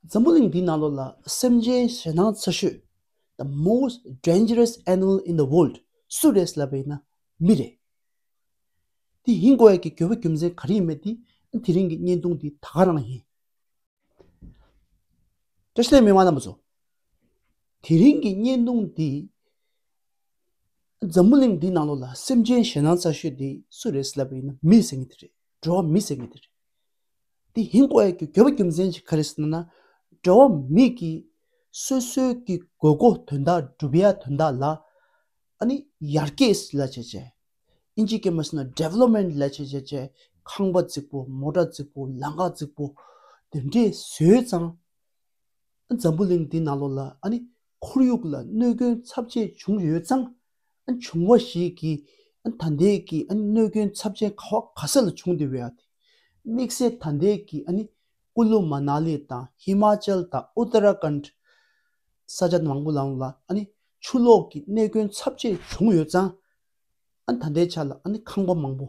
འཛམ་བུ་གླིང་འདིའི་ནང་ལོ་ལ་སེམས་ཅན་ཞེ་སྣང་ཆེ་ཤོས the most dangerous animal in the world སུ་རེད་ཟེར་བ་ཡིན་ན་མི་རེད། དེ་ཡིན་དགོས་ཡ་གི་དགོས་པ་རྒྱུ་མཚན་ག་རེ་ཡིན་མེད་དེ་དེ་རིང་གི་བརྙན་ཐུང་འདི་ད་ག་རང་ཡིན། བཀྲ་ཤིས་ལེ་མི་དམངས་རྣམས་པ་ཚོ། དེ་རིང་གི་བརྙན་ཐུང་འདི་འཛམ་བུ་གླིང་འདིའི་ནང་ལོ་ལ་སེམས་ཅན་ཞེ་སྣང་ཆེ་ཤོས་དེ་སུ་རེད་ཟེར་བ་ཡིན་ན་མི་ཟེར་ངེས་དེ་རེད་འགྲོ་བ་མི་ཟེར་ངེས་དེ་རེད། དེ་ཧིན་ཀོ་ཨེར་གྱི་གྱོད་པ་རྒྱུ་མཚན་གྱིས་ཁ་རེ་སི་ན་ན་འབྲེལ་བ་མེད་ཀི་སོད་སོད་ཀི་དགོས་མཁོ་དོན་དག་སྒྲུབ་ཡ་དོན་དག་ལ་ཨ་ནི་ཡར་རྒྱས་སི་ལ་བྱས་བྱས་ཨིན་ཇི་ཀེ་མ་སི་ན Development ལ་བྱས་བྱས་བྱས་ཁང་པ་རྫིག་པོ་མོ་ཏྲ་རྫིག་པོ་ལང་ཀ་རྫིག་པོ་དེ་འདྲས་བཟོས་ཙང་ཨ་འཛམ་བུ་གླིང་འདི་ན་ལོ་ལ་ཨ་ནི་ཁོར་ཡུག་ལ་གནོད་སྐྱོན་ཚབས་ཆེ་བྱུང་ཡོད་ཙང་བྱུང་བ་ཞིག་གིས་ཐ་དད་ཀྱི་གནོད་སྐྱོན་ཚབས་ཆེན་ག་བ་ག་ས་ལ་བྱུང་སྟེ་བའི་དམིགས་བསལ་ཐ་དད་ཀྱི་ཀུ་ལུ་མ་ན་ལི་དང་ཧི་མ་ཅལ་དང་ཨུ་ཏ་ར་ཀན་དྷ་ས་ཆ་མང་པོ་ལམ་ལ་ཆུ་ལོག་གི་གནད་སྐྱོན་ཚབས་ཆེན་བྱུང་ཡོད་ཙང་ཐ་དད་ཆ་ལ་ཁང་པ་མང་པོ།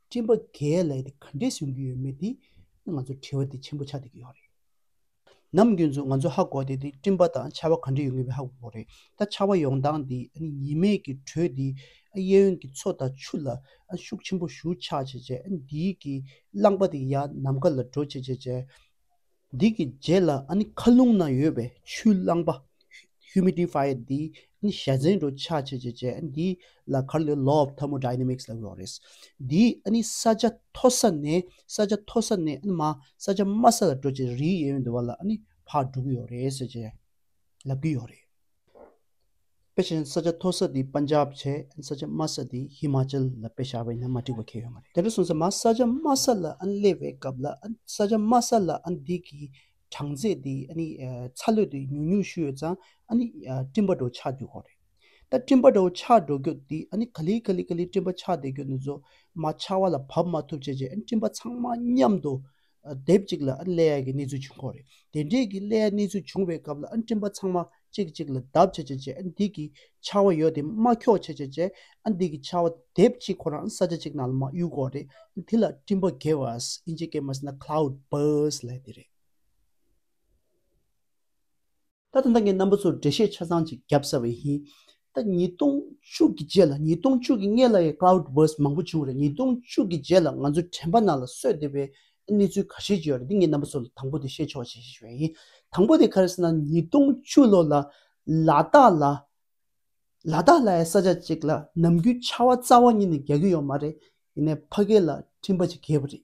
སྤྲིན་པ་འགའི་ལས་དེ་ག་འདྲས་བྱུང་གི་ཡོད་མེད་དེ་ནི་ང་ཚོར་དྲི་བ་དེ་ཆེན་པོ་ཆགས་བསྡད་ཀྱི་ཡོད་རེད། ནམ་རྒྱུན་ཚོ་ང་ཚོའི་ཧ་གོ་དེ་དེ་སྤྲིན་པ་དང་ཆར་བ་ག་འདྲས་ཡོང་གི་ཡོད་མེད་ཧ་གོ་རེད། ད་ཆར་བ་ཡོང་སྟངས་དེ་ཉི་མས་ཀྱི་དྲོད་དེ་གཡས་གཡོན་གྱི་མཚོ་དང་ཆུ་ལ་ཤུགས་ཆེན་པོ་ཞུགས་ཆགས་བྱས་རྗེས་དེའི་གྱི་རླངས་པ་དེ་ཡར་ནམ་མཁའ་ལ་འགྲོ་བྱས་རྗེས། འདི་གི་རྗེས་ལ་ཨ་ནི་མཁའ་རླུང་ན་ཡོད་པའི་ཆུའི་རླངས་པ། Humidifier། འདི་ཨ་ནི་ཞྭ་ཟན་འགྲོ་ཆགས་བྱེད་བྱེད་བྱེད་ཨ་འདིའི་ལ་ཁར་ལོའི Law of Thermodynamics ལ་འགྲོ་བ་རེད། འདིས་ཨ་ནི་ས་ཆ་མཐོ་ས་ནས་ས་ཆ་མཐོ་ས་ནས་ཨ་ནི་མ་ས་ཆ་དམའ་ས་ལ་འགྲོ་བྱེད་རིའི་ཡན་འདུ་བ་ལ་ཨ་ནི་བག་འགྲོ་གི་ཡོད་རེད་ཟེར་བྱེད་ལབ་ཀྱི་ཡོད་རེད། དཔེ་ཆ་ས་ཆ་མཐོ་ས་དེ་པན་ཇབ་བྱས་ས་ཆ་དམའ་ས་དེ་ཧི་མ་ཅལ་ལ་དཔེ་བཞག་པས་ན་མ་འགྲིག་པ་ཁེལ་ཡོད་མ་རེད། དེ་འདྲ་སོང་ཚེ་མ་ས་ཆ་དམའ་ས་ལ་སླེབས་པའི་སྐབས་ལ་ས་ཆ་དམའ་ས་ལ་འདི་གི་གྲངས་ཚད་དེ་ཚ་ལོས་དེ་ཉུང་ཉུང་ཞུས་ཡོད་ཙང་སྤྲིན་པ་འདྲའོ་ཆགས་འགྱུར་ཁོག་རེད། ད་སྤྲིན་པ་འདྲའོ་ཆགས་འགྲོ་རྒྱུ་དེ་ག་ལི་ག་ལི་ག་ལི་སྤྲིན་པ་ཆགས་བསྡད་རྒྱུ་ནི་རྫུན་མ་ཆགས་བ་ལ་བབས་མ་ཐུབ་བྱས་རྗེས་སྤྲིན་པ་ཚང་མ་མཉམ་དུ། དེབ་ཅིག་ལ་ཀླད་ཡག་གི་གནས་ཚུལ་བྱུང་ཁོག་རེད་དེ་འདྲས་ཀྱི་ཀླད་ཡག་གནས་ཚུལ་བྱུང་བའི་སྐབས་ལ་སྤྲིན་པ་ཚང་མ་གཅིག་གཅིག་ལ་བརྡབ་བྱེད་བྱེད་བྱེད་འདི་གི་ཆར་བ་ཡོད་དེ་མ་ཁྱོག་བྱེད་བྱེད་བྱེད་འདི་གི་ཆར་བ་དེབ་ཅིག་ཁོ་རང་ས་ཆ་གཅིག་ནང་ལ་མ་གཡུག་ཁོག་རེད་དེ་ལ་སྤྲིན་པ Gavas ཨིན་ཇི་སྐད་མ་ཟེར་ན Cloud Burst ལས་དེ་རེད། ད་དུང་ད་ངས་རྣམ་པ་ཚོར་འགྲེལ་བཤད་ཆ་ཚང་ཅིག་བརྒྱབ་ས་བས་ཡིན། ད་ཉིས་སྟོང་བཅུ་གི་རྗེས་ལ་ཉིས་སྟོང་བཅུ་གི་སྔས་ལ་ཡི Cloud Burst མང་པོ་བྱུང་བ་རེད་ཉིས་སྟོང་བཅུ་གི་རྗེས་ལ་ང་ཚོ་དྲན་པ་རྣ་ལ་སོས་བསྡད་པའི་གནས་ཚུལ་ག་ཤེད་ཅིག་ཡོད་རེད་འདི་ངས་རྣམ་པ་ཚོར་ལ་དང་པོ་དེ་བཤད་ཆོག་ཅིག་ཞེས་བས་ཡིན། དང་པོ་དེ་ག་རེད་ཟེར་ན་ཉིས་སྟོང་བཅུ་ལོ་ལ་ལ་དྭགས་ལ་ལ་དྭགས་ལ་ཡའི་ས་ཆ་ཅིག་ལ་ནམ་རྒྱུན་ཆར་བ་རྩ་བ་ཉིད་ནས་རྒྱག་གི་ཡོད་མ་རེད་ཡིན་ནས་ཕ་སྐད་ལ་འཕྲིན་པ་ཅིག་གས་པ་རེད།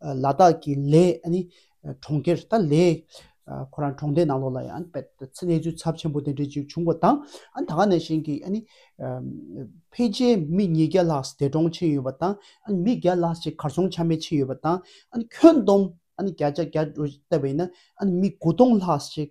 ལ་དྭགས་ཀྱི་ལས་གྲོང་ཁྱེར་ད་ལས་ཁོ་རང་གྲོང་སྡེ་ནང་ལོགས་ལ་ཡང་གནས་ཚུལ་ཚབས་ཆེན་པོ་དེ་འདྲས་ཅིག་བྱུང་བ་དང་ད་ག་ནས་བཞིན་གྱི་ཕལ་ཆེར་མི་ཉིས་བརྒྱ་ལྷག་འདས་གྲོངས་ཕྱིན་ཡོད་པ་དང་མི་བརྒྱ་ལྷག་ཅིག་གར་སོང་ཆ་མེད་ཕྱིན་ཡོད་པ་དང་ཁྱོན་བསྡོམས་བརྒྱ་ཆ་བརྒྱ་བལྟ་བས་ན་མི་དགུ་སྟོང་ལྷག་ཅིག་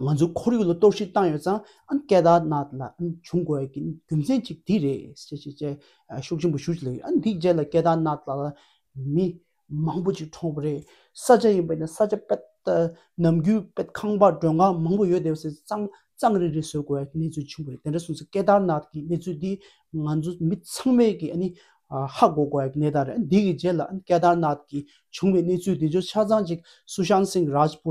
ང་ཚོའི་ཁོར་ཡུག་ལ་གཏོར་བཤིག་བཏང་ཡོད་ཙང་སྐད་བརྡ་ནག་ལ་བྱུང་དགོས་པའི་རྒྱུ་མཚན་གཅིག་དེ་རེད། ཅེས་ཤུགས་ཆེན་པོས་ཞུ་བཞིན་ཡོད། འདིའི་རྗེས་ལ་སྐད་བརྡ་ནག་ལ་མི་མང་པོ་ཅིག་གྲོངས་པ་རེད། ས་ཆ་ཡིན་པ་ནས་ས་ཆ་དཔེ་ནམ་རྒྱུན་དཔེ་ཁང་པ་མགྲོན་ཁང་མང་པོ་ཡོད་དེ་བ་སེ་གཙང་གཙང་རིང་རིང་བཟོ་དགོས་པའི་གནས་ཚུལ་བྱུང་བ་རེད་དེ་འདྲ་སོང་ཚེ་སྐད་བརྡ་ནག་གི་གནས་ཚུལ་འདི་ང་ཚོ་མི་ཚང་མས་ཀྱི་ཧ་གོ་དགོས་པའི་གནས་སྟངས་རེད། འདིའི་རྗེས་ལ་སྐད་བརྡ་ནག་གི་བྱུང་བའི་གནས་ཚུལ་འདི་ཚོ་ཆ་ཚང་ཅིག་སུ་ཤང་སིང་རཱཇ་པུ་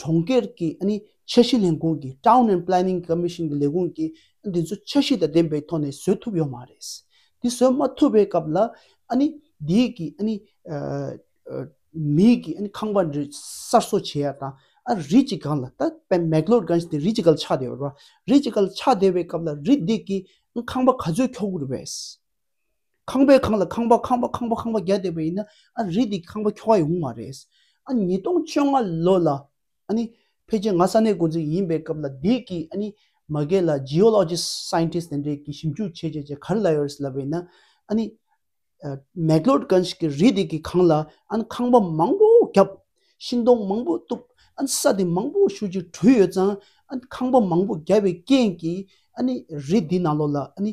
གྲོང་ཁྱེར་གྱི་འཆར་གཞི་ལས་ཁུངས་ཀྱི Town and Planning Commission གྱི་ལས་ཁུངས་ཀྱིས་དེ་ཚོ་འཆར་གཞི་དང་ལྡན་པའི་ཐོག་ནས་བཟོས་ཐུབ་ཡོད་མ་རེད། དེ་བཟོས་མ་ཐུབ་པའི་སྐབས་ལ། དེའི་གི་མིའི་གི་ཁང་པ་འདྲི་གསར་བཟོ་བྱས་ཡ་དང། རི་གཅིག་གང་ལ་ད McLeodganj དེ་རི་གཅིག་ག་ལ་ཆགས་བསྡད་ཡོད་རེད། རི་གཅིག་ག་ལ་ཆགས་བསྡད་པའི་སྐབས་ལ་རི་དེ་གི་ཁང་པ་ག་ཚོད་འཁྱོག་དགོས་རེད། ཁང་པའི་གང་ལ་ཁང་པ་ཁང་པ་ཁང་པ་ཁང་པ་བརྒྱ་བསྡད་པ་ཡིན་ན་ཨ་རི་དེ་ཁང་པ་འཁྱོག་ག་ཡོང་མ་རེད། ཨ་ཉིས་སྟོང་བཅོ་ལྔ་ལོ་ལ་ཨ་ནི་ཕལ་ཆེར་ང་ས་གནས་འགོ་འཛིན་ཡིན་པའི་སྐབས་ལ་དེད་ཀི་ཨ་ནི་མ་རྒས་ལ Geologist Scientist དེ་འདྲས་ཀི་ཞིབ་འཇུག་བྱས་བྱས་བྱས་ག་རི་ལ་ཡོད་རེད་ལབ་པ་ཡིན་ན་ཨ་ནི Megalodgons གི་རི་དེ་ཀི་གང་ལ་ཨ་ནི་ཁང་པ་མང་པོ་བརྒྱབ། ཤིང་སྡོང་མང་པོ་གཏུབ་ཨ་ནི་ས་དེ་མང་པོ་ཤུགས་ཀྱིས་དྲུད་ཡོད་ཙང་ཨ་ནི་ཁང་པ་མང་པོ་བརྒྱབ་པའི་རྐྱེན་ཀི་ཨ་ནི་རི་དེ་ནང་ལོགས་ལ་ཨ་ནི་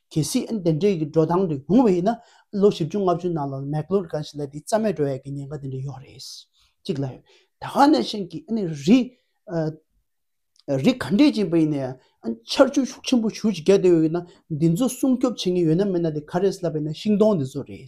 གལ་སྲིད་ཨན་དེ་འདྲའི་གི་འགྲོ་སྟངས་དེ་ཡོང་བ་ཡིན་ན་ལོ་བཞི་བཅུ་ལྔ་བཅུའི་ནང་ལ་མེག་ལོར་ག་ཞིག་ལ་དེ་རྩ་མེད་འགྲོ་ཡ་གི་ཉེན་ཁ་དེ་འདྲ་ཡོད་རེད། གཅིག་ལ། ད་ཧ་ནས་ཤིང་གི་ཨནི་རི། རི་ག་འབྲི་བྱེད་པ་ཡིན་ན་ཡང་ཨན་ཆར་ཆུ་ཤུགས་ཆེན་པོ་ཞུ་བྱེད་རྒྱ་དེ་ཡོད་ཡིན་ན་དེ་ཚོ་སྲུང་སྐྱོབ་བྱེད་ངེས་ཡོད་ན་མེད་ན་དེ་ག་རེད་ཟླ་བས་ན་ཤིང་སྡོང་དེ་ཚོ་རེད།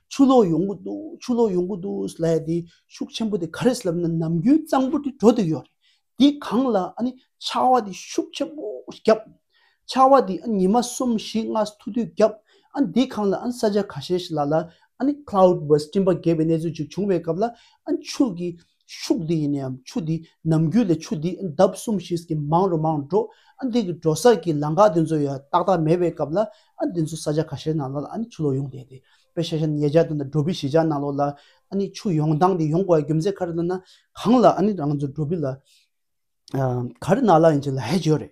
ཆུ་ལོག་ཡོང་གི་འདུག་ཆུ་ལོག་ཡོང་གི་འདུག་ཟེར་ལ་དེ་ཤུགས་ཆེན་པོ་དེ་ག་རེ་ཟེར་ལབ་ན་ནམ་རྒྱུན་གཙང་པོ་དེ་འགྲོ་དུ་ཡོད་རེད་དེ་གང་ལ་ཨ་ནི་ཆར་བ་དེ་ཤུགས་ཆེན་པོ་བརྒྱབ། ཆར་བ་དེ་ཨ་ཉི་མ་གསུམ་བཞི་ལྔ་ཐུག་དུས་བརྒྱབ་ཨ་ནི་དེ་གང་ལ་ཨ་ནི་ས་ཆ་ག་ཤེད་ཞིག་ལ་ལ་ཨ་ནི cloud burst སྤྲིན་པ་འགས་པའི་གནས་ཚུལ་ཅིག་བྱུང་བའི་སྐབས་ལ་ཨ་ནི་ཆུ་གི་ཕྱུགས་འདི་ཡིན་ནའམ་ཆུ་འདི་ནམ་རྒྱུན་ལས་ཆུ་འདི་འདབ་གསུམ་བཞིན་གྱི་མང་རུ་མང་འགྲོ་ཨ་འདི་གི་འགྲོ་ས་ཀྱི་ལང་ཀ་འདི་ཚོ་ཡ་ཏག་ཏག་མེད་པའི་སྐབས་ལ་ཨ་འདི་ཚོ་ས་ཆ་ག་ཤེད་ནང་ལོག་ལ་ཨ་ནི་ཆུ་ལོག་ཡོང་བསྡད་དེ་པེ་ཤ་ཤ་ཉེ་ཆ་དང་འགྲོ་བི་བཞི་ཆ་ནང་ལོག་ལ་ཨ་ནི་ཆུ་ཡོང་སྟངས་དེ་ཡོང་དགོས་རྒྱུ་མཚན་ག་རེ་ལ་ན་གང་ལ་ཨ་ནི་རང་ཚོ་འགྲོ་བི་ལ་ག་རེ་ནང་ལ་ཡིན་ཆ་ལ་ཧད་བྱོས་རེད།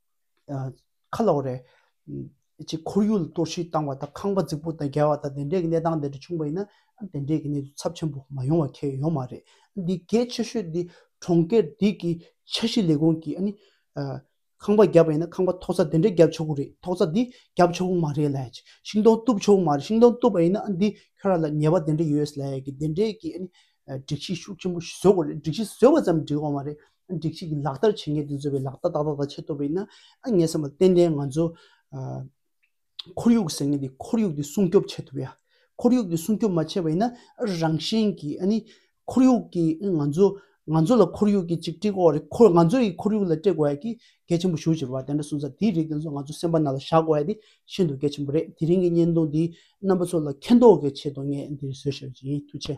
ཁ་ལོག་རེད། ཅེས་ཁོར་ཡུག་ལ་གཏོར་བཤིག་བཏང་བ་དང་ཁང་པ་རྫིག་པོ་དང་འགལ་བ་དང་དེ་འདྲའི་གནས་སྟངས་དེ་འདྲ་བྱུང་བ་ཡིན་ན་དེ་འདྲའི་གནས་ཚུལ་ཚབས་ཆེན་པོ་མ་ཡོང་བ་ཁེལ་ཡོད་མ་རེད། འདི་གལ་ཆེ་ཤོས་འདི་གྲོང་ཁྱེར་དེ་གི་འཆར་གཞི་ལས་ཁུངས་ཀྱིས་ཁང་པ་བརྒྱབ་པ་ཡིན་ན་ཁང་པ་ཐོག་རྩ་དེ་འདྲའི་བརྒྱབ་ཆོག་གི་རེད་ཐོག་རྩ་འདི་བརྒྱབ་ཆོག་གི་མ་རེད་ལ། ཤིང་སྡོང་གཏུབ་ཆོག་གི་མ་རེད་ཤིང་སྡོང་གཏུབ་པ་ཡིན་ན་འདི་ཁྱོད་རང་ལ་ཉེས་པ་དེ་འདྲ་ཡོད་ལ་དེ་འདྲའི་གི་སྒྲིག་གཞི་ཤུགས་ཆེན་པོ་བཟོ་དགོས་རེད་སྒྲིག་གཞི་བཟོས་པ་ཙམ་འགྲིག་བ་མ་རེད། སྒྲིག་ཆས་ཀྱི་ལག་བསྟར་བྱེད་མཁན་དེ་ཚོས་བའི་ལག་བསྟར་ད་ལྟ་ད་ཆད་ཐུབ་པ་ཡིན་ན་ངས་བསམ་པ་ཏན་ཏན་ང་ཚོ་ཁོར་ཡུག་ཟེར་མཁན་དེ་ཁོར་ཡུག་དེ་སྲུང་སྐྱོབ་བྱེད་ཐུབ་ཡ། ཁོར་ཡུག་དེ་སྲུང་སྐྱོབ་མ་བྱས་པ་ཡིན་ན་རང་བཞིན་གྱིས་ཨཱ་ཁོར་ཡུག་གི་ང་ཚོ་ང་ཚོ་ལ་ཁོར་ཡུག་གི་ཅིག་དཀྲིས་དགོས་རེད་ཁོར་ང་ཚོ་ཡི་ཁོར་ཡུག་ལ་དཀྲི་དགོས་ཡ་གི་གལ་ཆེན་པོ་ཞུ་ཅེས་པ་དེ་འདྲ་གསུངས་ཚར་དེའི་རིགས་དེ་ཚོ་ང་ཚོ་སེམས་པ་ན་ལ་བཞག་དགོས་ཡ་དེ་ཤིན་ཏུ་གལ་ཆེན་པོ་རེད་དེ་རིང་གི་བརྙན་ཐུང་འདིས་རྣམ་པ་ཚོ་ལ་མཁྱེན་རྟོགས་ཀྱི་ཆེད་དུ་ངས་འདིར་བཟོས་ཤག་བྱས་ཡིན་ཐུགས་ཆེ།